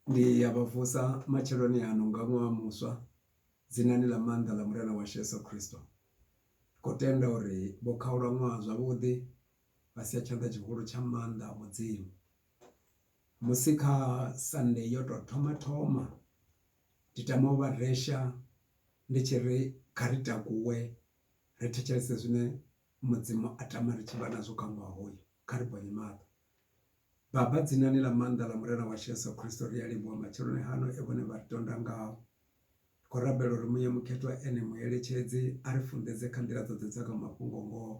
Ndi ya vha vusa matsheloni ano nga ṅwaha muswa dzinani ḽa maanḓa ḽa Murena washu Yeso Khristo. Ri khou tenda uri vho khaula ṅwaha zwavhuḓi vha sia tshanḓa tshihulu tsha maanḓa a Mudzimu. Musi kha sande yo tou thoma thoma ndi tama u vha resha ndi tshi ri kha ri takuwe ri thetshelese zwine Mudzimu a tama ri tshi vha nazwo kha ṅwaha hoyu kha ri bvonye maṱo. Baba, dzinani ḽa maanḓa ḽa Murena washu Yesu Kristo, ri a livhuwa matsheloni hano e vhone vha ri tonda ngao. Ri khou rabela uri Muya Mukhethwa ene mueletshedzi a ri funḓedze kha nḓila dzoṱhe dza kha mafhungo-ngoho,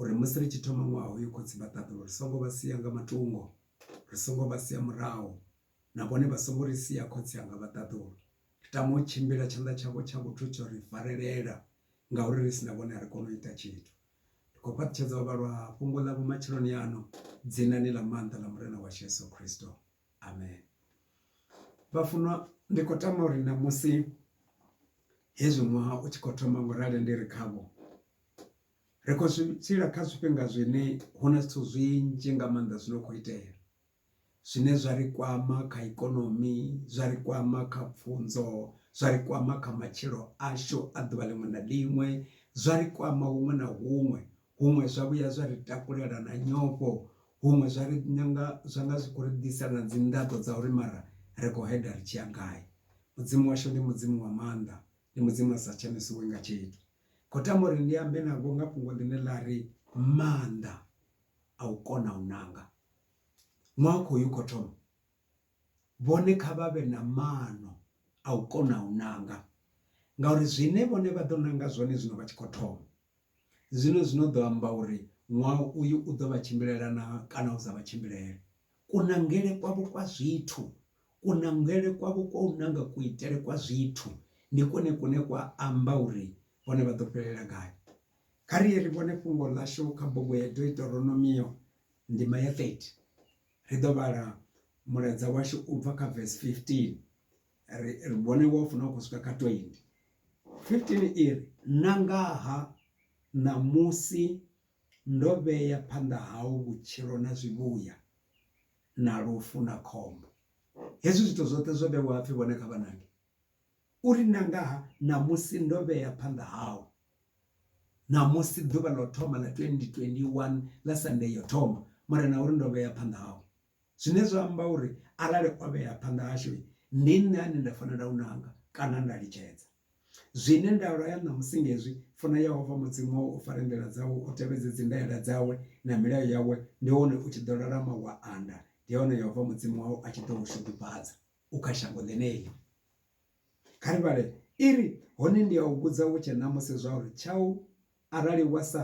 uri musi ri tshi thoma ṅwaha hoyu, Khotsi vha ṱaḓulu, ri songo vha sia nga matungo, ri songo vha sia murahu, na vhone vha songo ri sia, Khotsi anga vha ṱaḓulu. Ri tama u tshimbila, tshanḓa tshavho tsha vhuthu tsho ri farelela, ngauri ri si na vhone a ri koni u ita tshithu. Ndi khou fhaṱutshedza u vhalwa ha fhungo ḽavho matsheloni ano, dzinani ḽa maanḓa ḽa Murena washu Yesu Kristo. Amen. Vhafunwa, ndi khou tama uri ṋamusi hezwi ṅwaha u tshi khou thoma ngo rali ndi ri khavho, ri khou zwi tshila kha zwifhinga zwine hu na zwithu zwinzhi nga maanḓa zwi no khou itea. zwine zwa ri kwama kha ikonomi zwa ri kwama kha pfunzo zwa ri kwama kha matshilo ashu a ḓuvha ḽiṅwe na ḽiṅwe zwa ri kwama huṅwe na huṅwe huṅwe zwa vhuya zwa ri takulela na nyofho huṅwe zwa ri nyanga zwa nga zwi khou ri ḓisa na dzi nḓaḓo dza uri mara ri khou heḓa ri tshi ya gai mudzimu washu ndi mudzimu wa maanḓa ndi mudzimu a sa tshanisiwe nga tshithu khou tama uri ndi ambe navho nga fhungo ḽine ḽa ri maanḓa a u kona u nanga Ṅwaha u khou ya u khou thoma, vhone kha vha vhe na maano a u kona u nanga ngauri zwine vhone vha ḓo nanga zwone zwino vha tshi khou thoma zwino zwino ḓo amba uri ṅwaha uyu u ḓo vha tshimbilela na kana u sa vha tshimbilele. Kunangele kwavho kwa zwithu kunangele kwavho kwa u nanga kuitele kwa zwithu ndi kwone kune kwa amba uri vhone vha ḓo fhelela gai. Kha riye ri vhone fhungo ḽashu kha bugu ya Deuteronomio. Ndima ya 30, ri ḓo vhala mulaedza washu u bva kha vesi 15 ri ri vhone wa funa u khou swika kha 20. 15 i ri, Na nga ha ṋamusi ndo vhea phanḓa hau vhutshilo na zwivhuya, na lufu na khombo. Hezwi zwithu zwoṱhe zwo vhewa a pfi vhone kha vha nange. U ri, Na nga ha ṋamusi ndo vhea phanḓa hau, ṋamusi ḓuvha ḽo thoma ḽa 2021 ḽa Sunday yo thoma, Murena u ri, Ndo vhea phanḓa hau. Zwine zwa amba uri arali o vhea phanḓa hashu, ndi nṋe ane nda fanela u nanga kana nda litshedza. Zwine nda laya ṋamusi ndi hezwi, Funa Yehova Mudzimu wau u fare nḓila dzawe, u tevhedze dzindayela dzawe na milayo yawe, ndi hone u tshi ḓo lalama wa anda, ndi hone Yehova Mudzimu wau a tshi ḓo u shudufhadza. u kha shango ḽeneḽi. Kha ri vhale iri, Hone ndi a u vhudza hu tshe ṋamusi zwauri tshau arali wa sa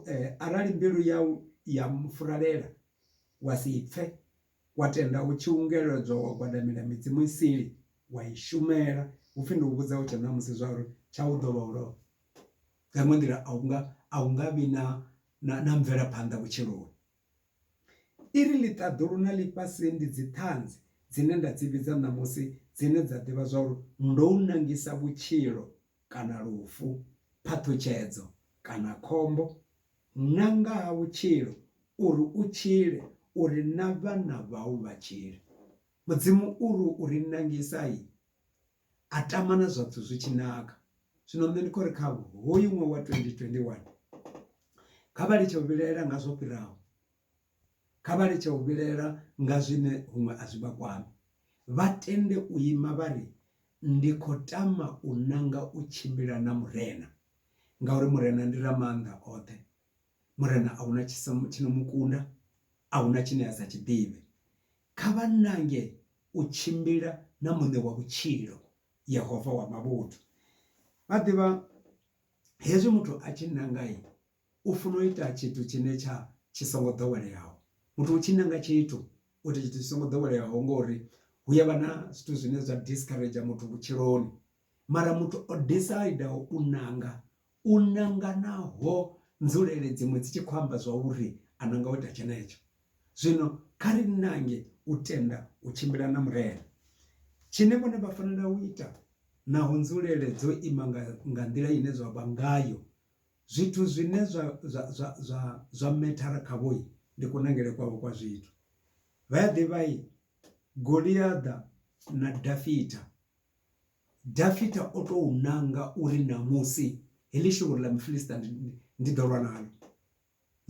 eh, arali mbilu yau ya mufuralela wa si pfe wa tenda u tshi ungeledzwa wa gwadamela midzimu isili wa i shumela hupfi ndi u vhudza hu tshe ṋamusi zwauri tshau ḓo vha u lovha nga iṅwe nḓila a unga a unga vhi na na, na mvelaphanḓa vhutshiloni I ri, Ḽiṱaḓulu na ḽifhasi ndi dziṱhanzi dzine nda dzi vhidza ṋamusi dzine dza ḓivha zwauri ndo u nangisa vhutshilo kana lufu, phaṱhutshedzo kana khombo, na nga ha vhutshilo, uri u tshile, uri na vhana vhau vha tshile. Mudzimu u ri u ri nangisa-i. a tama na zwapfhu zwi tshi naka zwino nṋe ndi khori kha hoyu ṅwaha wa 2021 kha vha litshe u vhilaela nga zwo fhiraho kha vha litshe u vhilaela nga zwine huṅwe a zwi vha kwami vha tende u ima vha ri ndi khou tama u nanga u tshimbila na murena ngauri murena ndi ra maanḓa oṱhe murena a huna tshisa tshino mukunda a huna tshine a sa tshiḓivhe Kha vha nange u tshimbila na Muṋe wa vhutshilo, Yehova wa mavhuthu. Vha ḓivha, hezwi muthu a tshi nanga, u funa u ita tshithu tshine tsha tshi songo ḓoweleaho. Muthu u tshi nanga tshithu, u ita tshithu tshi songo ḓoweleaho ngori hu ya vha na zwithu zwine zwa discourager muthu vhutshiloni. Mara muthu o decider u nanga U nanga naho nzulele dziṅwe dzi tshi khou amba zwauri a nanga u ita tshenetsho. Zwino kha ri nange u tenda u tshimbila na Murena. Tshine vhone vha fanela u ita, naho nzulele dzo ima nga, nga nḓila ine zwa vha ngayo, zwithu zwine zwa, zwa, zwa, zwa, zwa methara khavho ndi kunangele kwavho kwa zwithu. Vha a ḓivha, Goliaḓa na Dafita. Dafita o tou nanga uri ṋamusi heḽi shuvhuru ḽa Mufilista ndi ḓo lwa naḽo.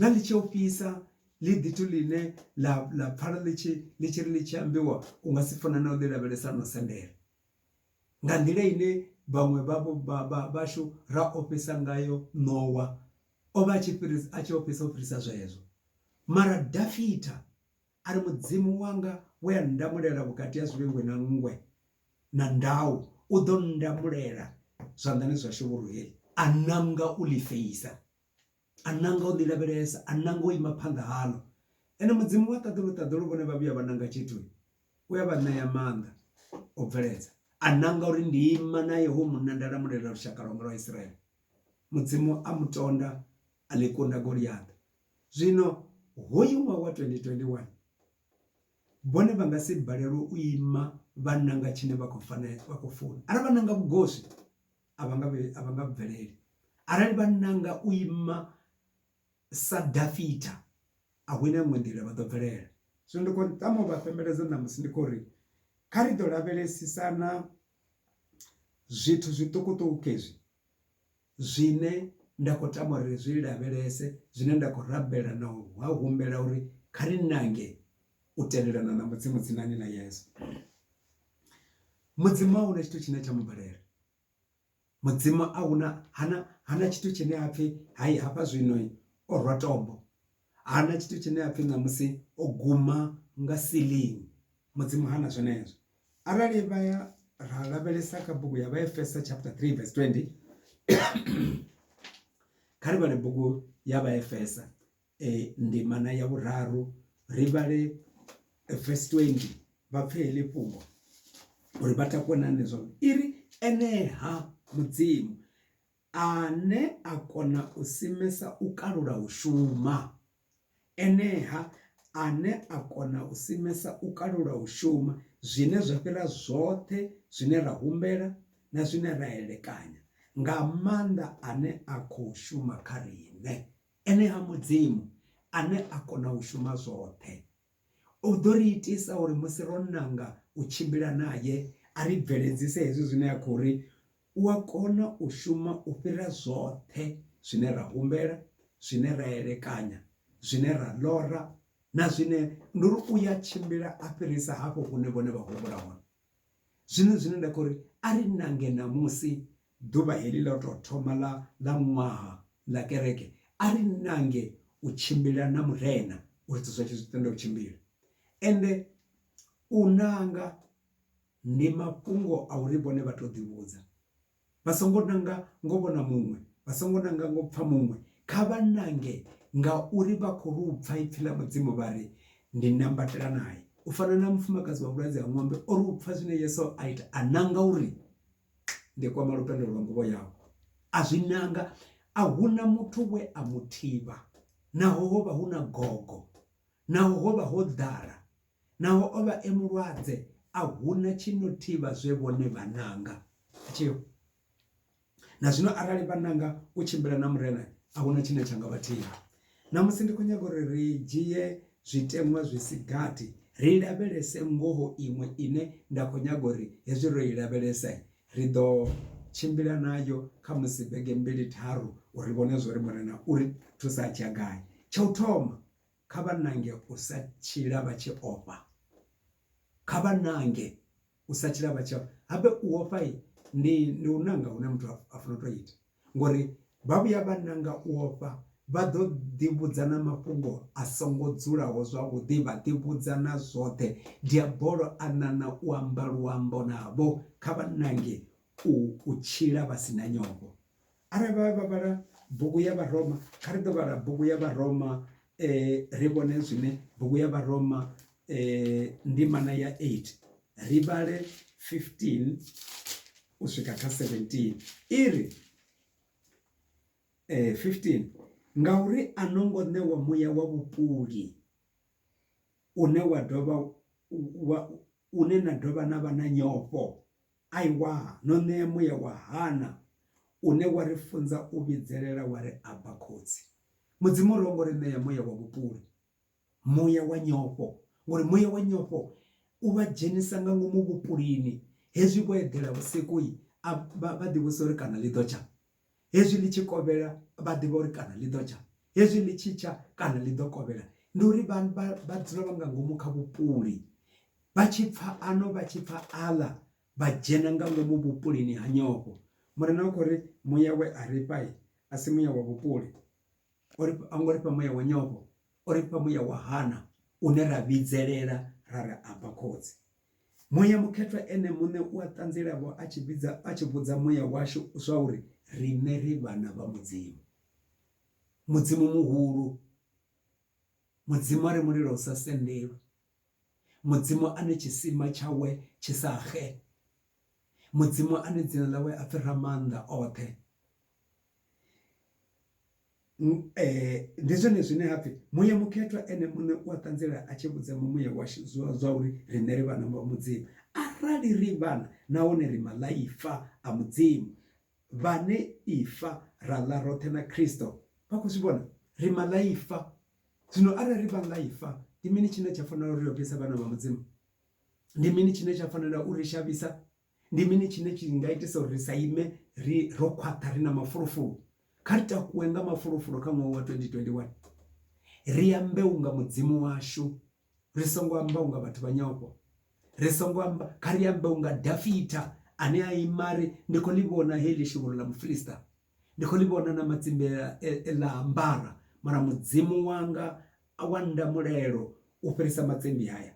Ḽa ḽi tshi ofhisa, ḽi ḓithu ḽine ḽa ḽa pfala ḽi tshi ḽi tshi ri ḽi tshi ambiwa u nga si funa na u ḽi lavhelesa no sendela. Nga nḓila ine vhaṅwe vhavho vhashu ra ofhisa ngayo ṋowa, o vha a tshi fhirisa a tshi ofhisa u fhirisa zwezwo. Mara Dafita A ri, Mudzimu wanga we a nndamulela vhukati ha zwivhengwe na nngwe na ndau, u ḓo nndamulela zwanḓani zwa shevhuruheli. A nanga u ḽi feisa, a nanga u ḽi lavhelesa, a nanga u ima phanḓa haḽo. Ene Mudzimu wa ṱaḓulu-ṱaḓulu vhone vha vhuya vha nanga tshithu, u a vha ṋea maanḓa o bveledza. A nanga uri ndi ima nae hoyu munna nda lamulela lushaka lwanga lwa Isiraele. Mudzimu a mu tonda, a ḽi kunda Goliaṱa, Zwino hoyu ṅwaha wa 2021, vhone vha nga si balelwe u ima vha nanga tshine vha khou fanela, vha khou funa. Arali vha nanga vhugoswi, a vha nga a vha nga bveleli. Arali vha nanga u ima sa Dafita, a hu na iṅwe nḓila vha ḓo bvelela. Zwino ndi khou tama u vha fhembeledza ṋamusi ndi khou ri kha ri ḓo lavhelesisana zwithu zwiṱukuṱuku hezwi zwine nda khou tama uri ri zwi lavhelese zwine nda khou rabela na u ha humbela uri kha ri nange u tendelana na mudzimu dzinani ḽa yesu mudzimu a huna tshithu tshine tsha mu balela mudzimu a huna hana hana tshithu tshine ha pfhi hai hafha zwino o rwa tombo hana tshithu tshine apfhi ṋamusi o guma nga siling mudzimu hana zwenezwo arali vha ya ra lavhelesa kha bugu ya vhaefesa chapter 3 verse 20 kha ri vhale bugu ya vhaefesa e ndimana ya vhuraru ri vhale verse 20 vha pfhe heḽi fhungo uri vha takuwe na nṋe zwavhuḓi i ri eneha mudzimu Ane a kona u simesa u kalula u shuma. Enea ane a kona u simesa u kalula u shuma, zwine zwa fhira zwoṱhe zwine ra humbela na zwine ra elekanya, nga maanḓa ane a khou shuma kha riṋe, enea Mudzimu ane a kona u shuma zwoṱhe. U ḓo ri itisa uri musi ro nanga u tshimbila nae, a ri bveledzise hezwi zwine a khou ri, U a kona u shuma u fhira zwoṱhe zwine ra humbela, zwine ra elekanya, zwine ra ḽora na zwine. Ndi uri u ya tshimbila a fhirisa hafho hune vhone vha humbula hone. Zwino zwine nda khou ri, a ri nange ṋamusi ḓuvha heḽi ḽa u tou thoma ḽa, ḽa ṅwaha ḽa kereke, a ri nange u tshimbila na Murena, uri zwithu zwashu zwi tende u tshimbila. Ende u nanga ndi mafhungo a uri vhone vha tou ḓivhudza. Vha songo nanga ngo vhona muṅwe, vha songo nanga ngo pfa muṅwe, kha vha nange ngauri vha khou lu pfa ipfi ḽa Mudzimu vha ri, Ndi nambatela nae. U fana na mufumakadzi wa vhulwadze ha ṅwambe o ri u pfa zwine Yesu a ita a nanga uri, Ndi kwama lupendo lwa nguvho yau. A zwi nanga, a hu na muthu we a mu thivha, naho ho vha hu na gogo, naho ho vha ho ḓala. Naho o vha e mulwadze, a hu na tshi no thivha zwe vhone vha nanga. A tshi ho. Na zwino arali vha nanga u tshimbila na Murena, a hu na tshine tsha nga vha thivha. Ṋamusi ndi khou nyaga uri ri dzhie zwiteṅwa zwi si gathi ri lavhelese ngoho iṅwe ine nda khou nyaga uri hezwi ro i lavhelesa, ri ḓo tshimbila nayo khamusi vhege mbili tharu uri ri vhone zwa uri Murena u ri thusa a tshi ya gai. Tsha u thoma, Kha vha nange u sa tshila vha tshi ofha. Kha vha nange u sa tshila vha tshi ofha. Habe u ofha ndi ndi u nanga hune muthu a funa u tou ita ngori vha vhuya vha nanga u ofha vha ḓo ḓi vhudza na mafhungo a songo dzulaho zwavhuḓi vha ḓi vhudza na zwoṱhe. Diabolo a ṋaṋa u amba luambo navho kha vha nange u tshila vha si na nyofho. Arali vha vha vhala bugu ya Vharoma, kha ri ḓo vhala bugu ya Vharoma eh ri vhone zwine bugu ya Vharoma eh ndimana ya 8 ri vhale 15 u swika kha 17 iri eh 15 ngauri a no ngo ṋewa muya wa vhupuli une wa dovha wa une na dovha na vha na nyofho Aiwa, no ṋea muya wa Hana une wa ri funza u vhidzelela wa ri, Abba, Khotsi. Mudzimu u ri ho ngo ri ṋea muya wa vhupuli, muya wa nyofho, ngori muya wa nyofho u vha dzhenisa nga ngomu vhupulini, hezwi vho eḓela vhusiku vha ḓivhudzisa uri kana ḽi ḓo tsha. Hezwi ḽi tshi kovhela, vha ḓivha uri kana ḽi ḓo tsha. Hezwi ḽi tshi tsha, kana ḽi ḓo kovhela. Ndi uri vha, vha, vha dzula vha nga ngomu kha vhupuli. Vha tshi pfa ano, vha tshi pfa aḽa, vha dzhena nga ngomu vhupulini ha nyofho. Murena u khou ri, Muya we a ri fha-i, a si muya wa vhupuli. O ri, ho ngo ri fha muya wa nyofho, o ri fha muya wa hana, une ra vhidzelela ra ri, Abba, Khotsi. Muya mukhethwa Ene muṋe u a ṱanziela-vho a tshi vhidza, a tshi vhudza muya washu zwauri riṋe ri vhana vha Mudzimu, Mudzimu muhulu, Mudzimu a re mulilo u sa sendelwi, Mudzimu ane tshisima tshawe tshi sa xe, Mudzimu ane dzina ḽawe a pfi Ramaanḓa-oṱhe. Ndi zwone zwine ha pfhi muya mukhethwa ene muṋe u a ṱanzela a tshi vhudza mumuya washu zwiḽiwa zwa uri riṋe ri vhana vha Mudzimu. Arali ri vhana nahone ri maḽaifa a Mudzimu vhane ifa ra ḽa roṱhe na Khristo vha khou zwi vhona ri maḽaifa. Zwino arali ri vhaḽaifa ndi mini tshine tsha fanela uri ri ofhise vhana vha Mudzimu? Ndi mini tshine tsha fanela uri shavhisa? Ndi mini tshine tshi nga itisa uri ri sa ime ri ro khwaṱha ri na mafulufulu? Kha ri takuwe nga mafulufulu kha ṅwaha wa 2021. Ri ambe u nga Mudzimu washu, ri songo amba u nga vhathu vha nyofho. Ri songo amba, kha ri ambe u nga Dafita ane a ima a ri, Ndi khou ḽi vhona heḽi shuvhuru ḽa Mufilista, ndi khou ḽi vhona na matsimbe e ḽa ambara, mara Mudzimu wanga wa nda mulelo u fhirisa matsimbi haya.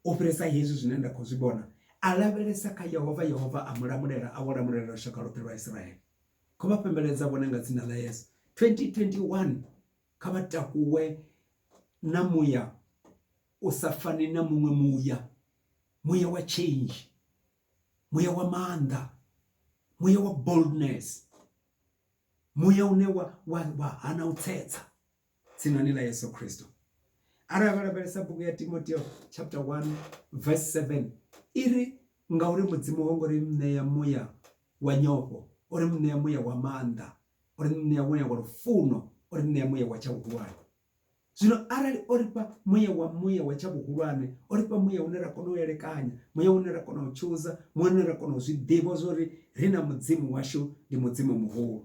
U fhirisa hezwi zwine nda khou zwi vhona, a lavhelesa kha Yehova, Yehova a mu lamulela, a vho lamulela lushaka lwoṱhe lwa Israele. Kho vha fhembeledza vhone nga dzina ḽa Yesu. 2021 kha vha takuwe na muya u sa fani na muṅwe muya, muya wa change, muya wa maanḓa, muya wa boldness, muya une wa wa wa hana u tsetsa. tsinoni ḽa Yesu Kristo arali lavhelesa bugu ya Timoteo chapter 1 verse 7 iri ngauri mudzimu ho ngori ṋea muya wa nyofho uri ṋea muya wa maanḓa uri ṋea muya wa lufuno uri ṋea muya wa tsha vhuhulwane zwino arali o ri fha muya wa muya wa tsha vhuhulwane o ri fha muya une ra kona u elekanya muya une ra kona u tshuza muya une ra kona u zwi ḓivha zwori ri na mudzimu washu ndi mudzimu muhulu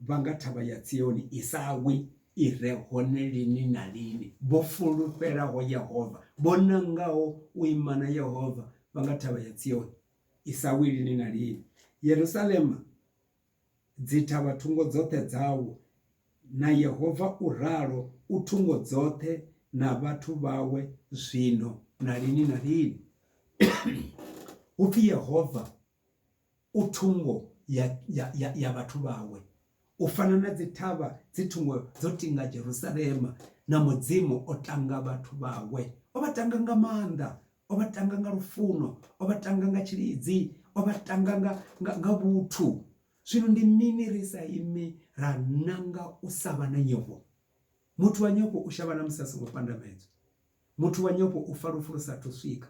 vha nga thavha ya Tsioni i sa wi, i re hone lini na lini, vho fulufhelaho Yehova, vho nangaho u ima na Yehova, vha nga thavha ya Tsioni i sa wi lini na lini. Yerusalema, dzi thavha thungo dzoṱhe dzawo, na Yehova u ralo, u thungo dzoṱhe na vhathu vhawe zwino na lini na lini. Hu pfi Yehova u thungo ya, ya, ya, ya vhathu vhawe, u fana na dzithavha dzi thungo dzo tinga Jerusalema, na Mudzimu o tanga vhathu vhawe. O vha tanga nga maanḓa, o vha tanga nga lufuno, o vha tanga nga tshilidzi, o vha tanga nga, nga, nga vhuthu. Zwino ndi mini ri sa imi ra nanga u sa vha na nyofho? Muthu wa nyofho u shavha na musi a songo pandamedzwa. Muthu wa nyofho u fa lufu lu sa athu swika.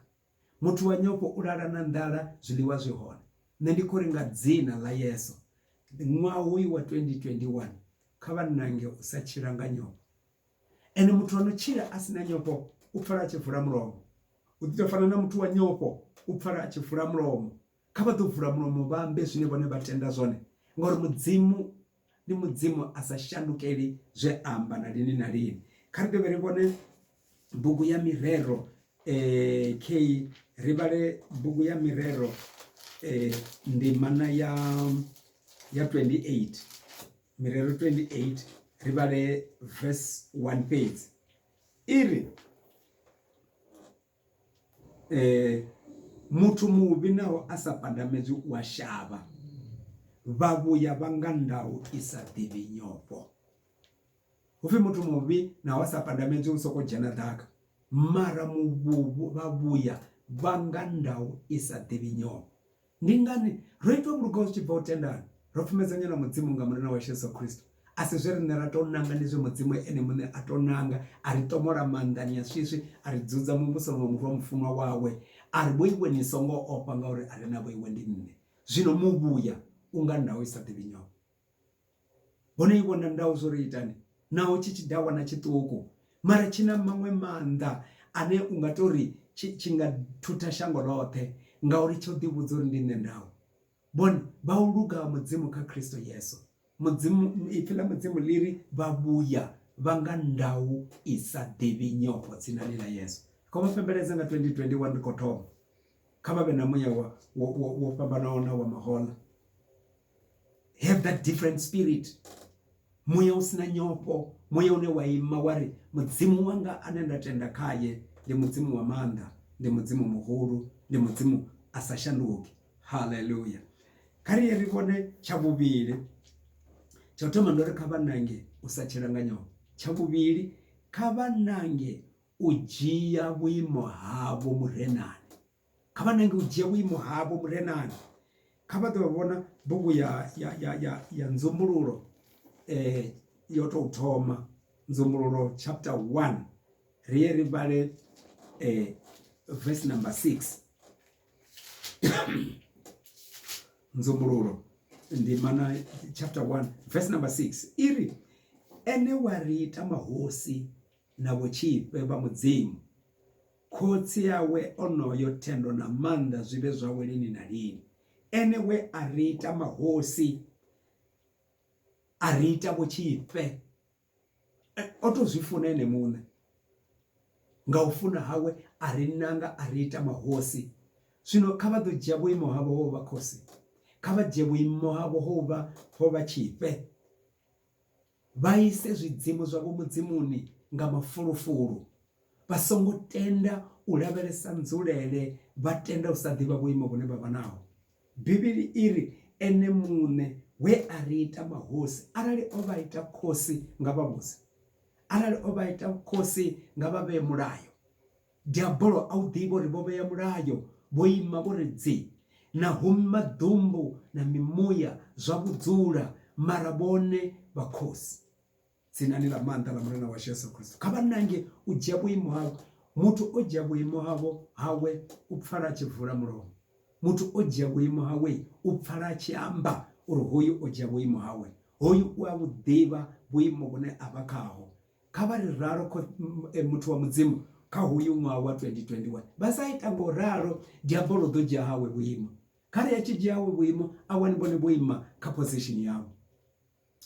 Muthu wa nyofho u lala na nḓala zwiḽiwa zwi hone. Nṋe ndi khou ri nga dzina ḽa Yesu ṅwaha hoyu wa 2021 kha vha ṋange u sa tshila nga nyofho. Ene muthu a no tshila a si na nyofho u pfala a tshi vula mulomo. U ḓi tou fana na muthu wa nyofho u pfala a tshi vula mulomo. Kha vha ḓo vula mulomo vha ambe zwine vhone vha tenda zwone, ngauri Mudzimu ndi Mudzimu a sa shandukeli zwe a amba na lini na lini. Kha ri dovhe ri vhone bugu ya Mirero eh, K ri vhale bugu ya Mirero eh, ndimana ya ya 28 Mirero 28 ri vhale verse 1 fhedzi iri Muthu muvhi naho a sa pandamedzwe u a shavha, vhavhuya vha nga ndau i sa ḓivhi nyofho. Hu pfhi muthu muvhi naho a sa pandamedzwe u sokou dzhena ḓaka, mara muvhu vhavhuya vha nga ndau i sa ḓivhi nyofho. Ndi ngani? Ro itwa vhulugau zwi tshi bva u tendani. Ro pfumedzanywa na Mudzimu nga Murena washu Yesu Kristo. A si zwe riṋe ra tou nanga, ndi zwe Mudzimu Ene muṋe a tou nanga, a ri ṱomola maanḓani a swiswi, a ri dzudza Muvhusoni wa Murwa mufunwa wawe, a ri, Vhoiwe ni songo ofha, ngauri a re na vhoiwe ndi nṋe. Zwino muvhuya, unga ndau i sa ḓivhi nyofho. hone ivho na ndau zwo ri itani naho tshi tshi dawa na tshiṱuku mara tshi na maṅwe maanḓa ane u nga tori tshi nga thutha shango ḽoṱhe ngauri tsho ḓi vhudza uri ndi nṋe ndau vhone vha u luga ha mudzimu kha kristo yesu mudzimu ipfi ḽa mudzimu ḽi ri vha vhuya vha nga ndau i sa ḓivhi nyofho dzinani ḽa yesu kho vha fhembeledza nga 2021 ri khou thoma kha vha vhe na muya wo fhambanaho na wa mahoḽa have that different spirit muya u sina nyofho muya une wa ima wa ri mudzimu wanga ane nda tenda khaye ndi mudzimu wa maanḓa ndi mudzimu muhulu ndi mudzimu a sa shanduki haleluya kha ri ye ri vhone tsha vhuvhili tsha u thoma ndo ri kha vha nange u sa tshila nga nyofho tsha vhuvhili kha vha nange u dzhia vhuimo havho murenani kha vha nange u dzhia vhuimo havho murenani kha vha ḓo vhona bugu ya ya ya ya ya nzumbululo eh yo tou thoma nzumbululo chapter 1 ri ye ri vhale eh verse number 6 nzumbululo ndimana chapter 1 verse number 6 iri ene wa ri ita mahosi na vhotshifhe vha mudzimu Khotsi awe onoyo thendo na maanḓa zwi vhe zwawe lini na lini, ene we a ri ita mahosi a ri ita vho tshifhe. O tou zwi funa ene muṋe, nga u funa hawe a ri nanga a ri ita mahosi. Zwino kha vha ḓo dzhia vhuimo havho ho vha khosi, kha vha dzhie vhuimo havho ho vha ho vha tshifhe. Vha ise zwidzimu zwavho mudzimuni nga mafulufulu. Vha songo tenda u lavhelesa nzulele, vha tenda u sa ḓivha vhuimo vhune vha vha naho. Bivhili i ri, Ene muṋe we a ri ita mahosi, arali o vha ita khosi, nga vha vhudze. Arali o vha ita khosi, nga vha vhee mulayo. Diabolo a u ḓivha uri vho vhea mulayo, vho ima vho ri dzi, na hum maḓumbu na mimuya zwa vhudzula, mara vhone vha khosi. Dzinani ḽa maanḓa ḽa Murena washu Yesu Kristo, kha vha nange u dzhia vhuimo havho. Muthu o dzhia vhuimo havho hawe u pfala a tshi vula mulomo. Muthu o dzhia vhuimo hawe u pfala a tshi amba uri hoyu o dzhia vhuimo hawe. Hoyu u a vhu ḓivha vhuimo vhune a vha khaho, Kha vha ri ralo eh, muthu wa mudzimu kha hoyu ṅwaha wa 2021 vha sa ita ngo ralo diabolo ḓo dzhia hawe vhuimo kha ri a tshi dzhia hawe vhuimo a wani vhone vho ima kha position yawe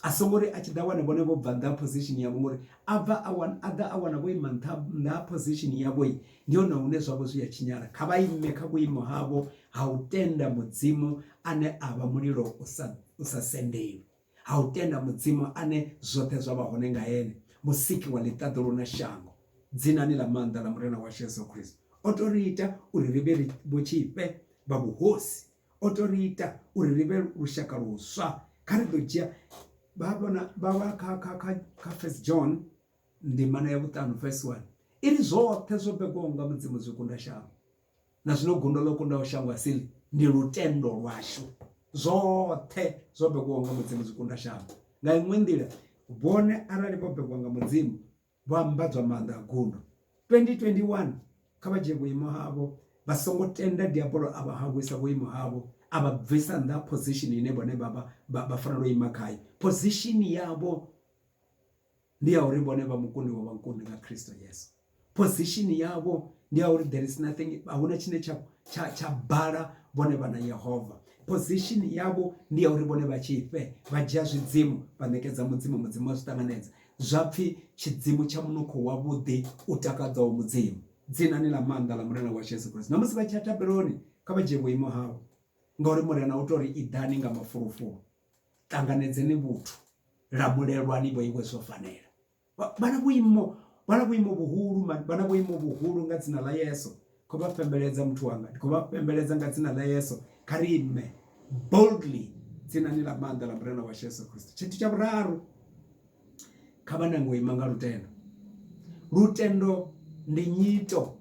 a songo ri a tshi ḓa wana vhone vho bva nṱha position yavho ngori a bva a wana a ḓa a wana vho ima nṱha nṱha position yavho i ndi hone hune zwavho zwi a tshinyala kha vha ime kha vhuimo havho ha u tenda mudzimu ane a vha mulilo u sa u sa sendelwi ha u tenda Mudzimu ane zwoṱhe zwa vha hone nga Ene, Musiki wa ḽiṱaḓulu na shango, dzinani ḽa maanḓa ḽa Murena washu Yesu Kristo. O tou ri ita uri ri vhe vhotshifhe vha vhuhosi. O tou ri ita uri ri vhe lushaka luswa. Kha ri ḓo dzhia vha vhona vha vha kha kha kha kha First John ndimana ya vhuṱanu verse 1 iri zwoṱhe zwo begwaho nga Mudzimu zwi kunda shango. na zwino gundo ḽo kundaho shango a si ḽi ndi lutendo lwashu zwoṱhe zwo bekiwaho nga mudzimu zwi kunda shango nga iṅwe nḓila vhone arali vho bekiwa nga mudzimu vho ambadzwa maanḓa a gundo 2021 kha vha dzhie vhuimo havho vha songo tenda diabolo a vha hangwisa vhuimo havho a vha bvisa nnḓa position ine vhone vha vha vha fanela u ima khayo position yavho ndi ya uri vhone vha mukundi wa vhakundi nga Kristo Yesu position yavho ndi ya uri there is nothing ahuna tshine tsha tsha tsha bala vhone vha na Yehova position yavho ndi ya uri vhone vha tshifhe vha dzhia zwidzimu vha ṋekedza mudzimu mudzimu wa zwi ṱanganedza zwa pfhi tshidzimu tsha munukho wavhuḓi u takadzaho mudzimu dzinani ḽa maanḓa ḽa murena wa Yesu Kristo na musi vha tshi ya tabeloni kha vha dzhie vhuimo havho ngauri murena u tori iḓani nga mafulufulu ṱanganedzeni vhuthu lamulelwani vho iwe zwo fanela vhana vhuimo vhana vhuimo vhuhulu vhana vhuimo vhuhulu nga dzina ḽa Yesu kho vha fhembeledza muthu wanga ndi kho vha fhembeledza nga dzina ḽa Yesu kha ri ime boldly dzinani ḽa maanḓa ḽa murena wa Yesu Kristo tshithu tsha vhuraru Kha vha nange u ima nga lutendo. Lutendo ndi nyito.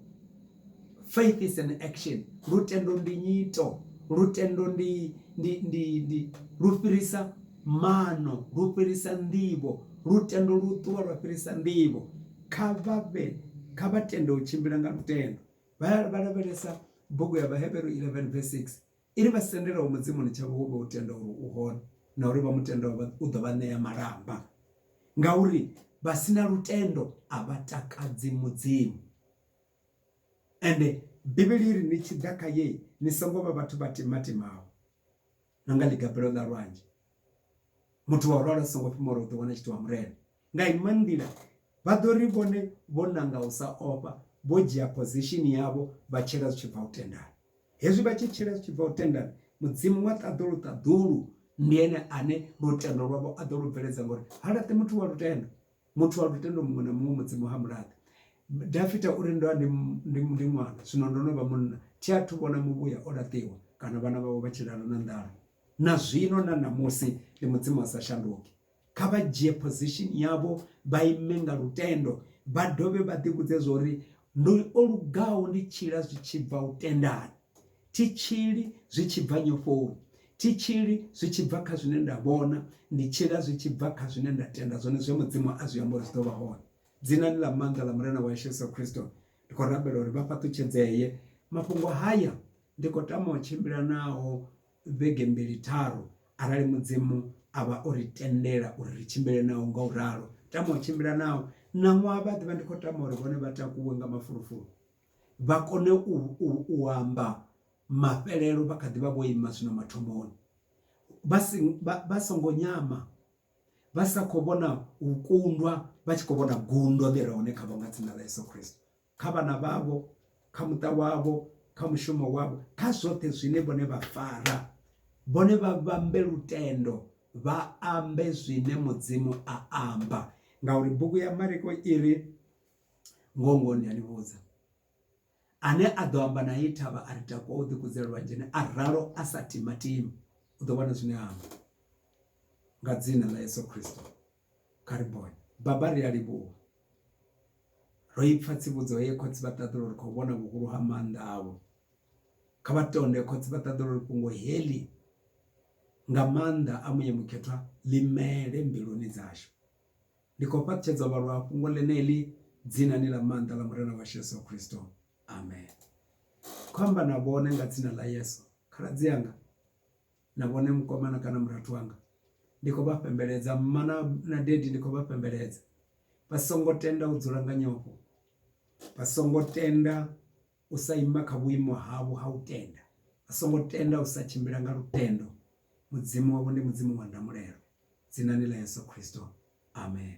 Faith is an action. Lutendo ndi nyito. Lutendo ndi ndi ndi ndi lu fhirisa mano, lu fhirisa nḓivho. Lutendo lu ṱuwa lwa fhirisa nḓivho. Kha vha vhe kha vha tende u tshimbila nga lutendo. Vha vha lavhelesa bugu ya Vhahevheru 11 verse 6. I ri vha sendelaho Mudzimuni tshavho vho vha u tenda uri u hone, na uri vha mu tendaho vha u ḓo vha ṋea malamba, ngauri vha si na lutendo a vha takadzi Mudzimu. Ende Bivhili i ri, Ni tshi ḓa kha ye, ni songo vha vhathu vha timatimaho, na nga ḽigabelo ḽa lwanzhe. Muthu wa u ralo a songo fhumula u ḓiwana a tshi itiwa Murena. Nga inwe nḓila, vha ḓo ri vhone vho nanga u sa ofha, vho dzhia phozishini yavho vha tshila zwi tshi bva u tendani. Hezwi vha tshi tshila zwi tshi bva u tendani, Mudzimu wa ṱaḓulu-ṱaḓulu ndi ene ane lutendo lwavho a ḓo lu bveledza ngori ha laṱi muthu wa lutendo. Muthu wa lutendo muṅwe na muṅwe Mudzimu ha mu laṱi. Dafita u ri, Ndo vha ndi, ndi, ndi ṅwana, zwino ndo no vha munna, thi athu vhona muvhuya o laṱiwa kana vhana vhawe vha tshi lala na nḓala. Na zwino na ṋamusi ndi Mudzimu a sa shanduki. kha vha dzhie position yavho vha ime nga lutendo vha dovhe vha ḓi vhudze zwori ndo o lugaho ndi tshila zwi tshi bva u tendana thi tshili zwi tshi bva nyofoni thi tshili zwi tshi bva kha zwine nda vhona ndi tshila zwi tshi bva kha zwine nda tenda zwone zwe mudzimu a zwi amba uri zwi ḓo vha hone dzinani ḽa maanḓa ḽa murena wa yesu yesu khristo ndi khou rabela uri vha fhaṱutshedzee mafhungo haya ndi khou tama u tshimbila nao vhege mbili tharu arali mudzimu a vha o ri tendela uri ri tshimbile naho nga u ralo tama u tshimbila naho na ṅwaha vha ḓivha ndi khou tama uri vhone vha takuwe nga mafulufulu vha kone u amba mafhelelo vha kha ḓivha vho ima zwino mathomoni vha si vha songo nyama vha sa kho vhona u kundwa vha tshi kho vhona gundo ḽi re hone khavho nga dzina ḽa Yeso Khristo. kha vhana vhavho kha muṱa wavho kha mushumo wavho kha zwoṱhe zwine vhone vha fara vhone vha vhambe lutendo vha ambe zwine mudzimu a amba ngauri bugu ya mariko i ri ngongo ndi a ni vhudza ane a ḓo amba na i thavha a ri takuwa u ḓikudzela lwanzheni a ralo a sa timatima u ḓo vhona zwine amba nga dzina ḽa yesu khristo Kha ri bone. Baba, ri a livhuwa. Ro i pfa tsivhudzo ye khotsi vha ṱaḓula uri khou vhona vhuhulu ha maanḓa avho. Kha vha tonde khotsi vha ṱaḓula uri fhungo heḽi nga maanḓa a Muya Mukhethwa ḽi mele mbiluni dzashu. Ndi khou fhaṱutshedza u vhalwa ha fhungo ḽeneḽi dzinani ḽa maanḓa ḽa Murena washu Yesu Kristo. Amen. Khou amba na vhone nga dzina ḽa Yesu. Khaladzi anga, na vhone mukomana kana murathu wanga ndi khou vha fhembeledza mma na na dady ndi khou vha fhembeledza vha songo tenda u dzula nga nyofho vha songo tenda u sa ima kha vhuimo havho ha u tenda vha songo tenda u sa tshimbila nga lutendo mudzimu wavho ndi mudzimu wa ndamulelo dzinani ḽa Yeso Khristo amen.